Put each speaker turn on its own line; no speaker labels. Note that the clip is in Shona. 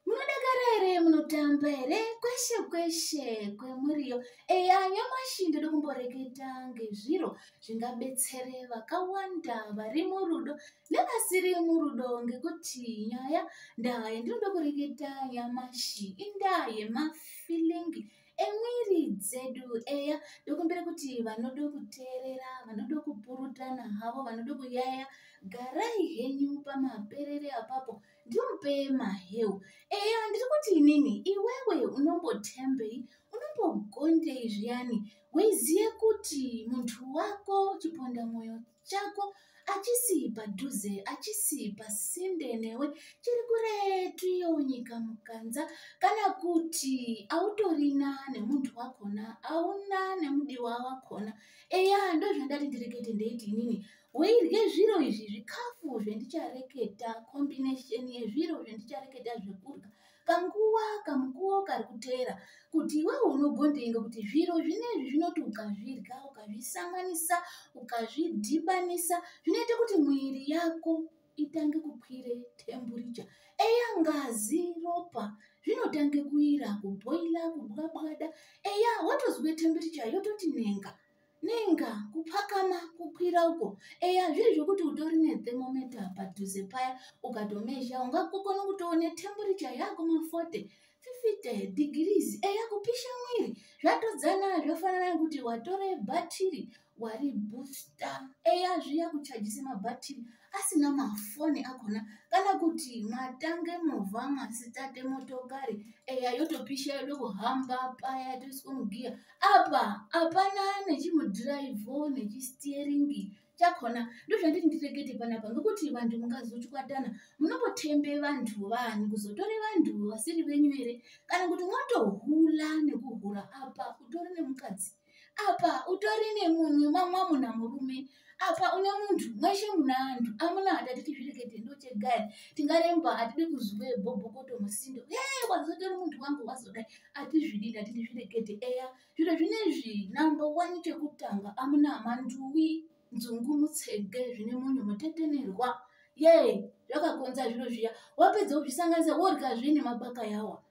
munodakara here munotamba here kweshe kweshe kwemuriyo eya nyamashi ndiri kumboreketa ngezviro zvingabetsere vakawanda vari murudo nevasiri murudo ngekuti nyaya ndaa yandinoda kureketa nyamashi indaa yemafilingi emwiri dzedu eya ndokumbira kuti vanoda kuteerera vanoda kupurutana havo vanoda kuyaya garai henyu pamaperere apapo ndimupei maheu eya ndiri kuti inini iwewe unombotembei unombogondei zviyani weiziye kuti muntu wako chiponda mwoyo chako achisi padhuze achisi pasinde newe chiri kuretu iyo nyika mukanza kana kuti autorina nemuntu wakona auna nemudiwa wakona eya ndozvandati ndirekete ndeiti inini weirye zviro izvi zvikafu zvendichareketa combination yezviro zvendichareketa zvekurya kanguva kamukuwo kari kuteera kuti iwewo unogondei ngekuti zviro zvinezvi zvinoti ukazvirya ukazvisanganisa ukazvidhibanisa zvinoita kuti mwiri yako itange kukwire temburicha eya ngazi ropa zvinotange kuira kubhoila kubwabwada eya watozwe temburicha yototi nenga nenga kupakama kukwira uko eya zviri zvekuti utori nethermometa padhuze paya ukatomezha ungakukona kutoone temburicha yako mafote fifite degrees eya kupisha mwiri zvatodzana zvofanana nekuti watore bhatiri wari booster eya zviya kuchajise mabhatiri e asina mafoni akona kana kuti matange movha masitate motokari eya yotopisha yodo kuhamba paya toiswa mugiya apa hapana nechimudhiraivho nechistieringi chakona ndozvanditi ndirekete panapa ngekuti vanhu mungazochwatana munototembe vanhu vanhu kuzotore vanhu vasiri venyu here kana kuti motohula nekuhura apa utori nemukadzi apa utori nemunhu mamwa muna murume apa une munhu mweshe muna anhu amuna hatati tizvirekete ndochegaya tingaremba hatidi kuzuve bhobhokoto musindo e wazotori munhu wangu wazodai atizvidi ndati tizvirekete eya zviro zvine zvi number one chekutanga amuna manduwi nzungu mutsege zvine munhu mutetenerwa yee zvakakonza zviro zviya wapedza kuzvisanganisa worya zvine mabaka yawa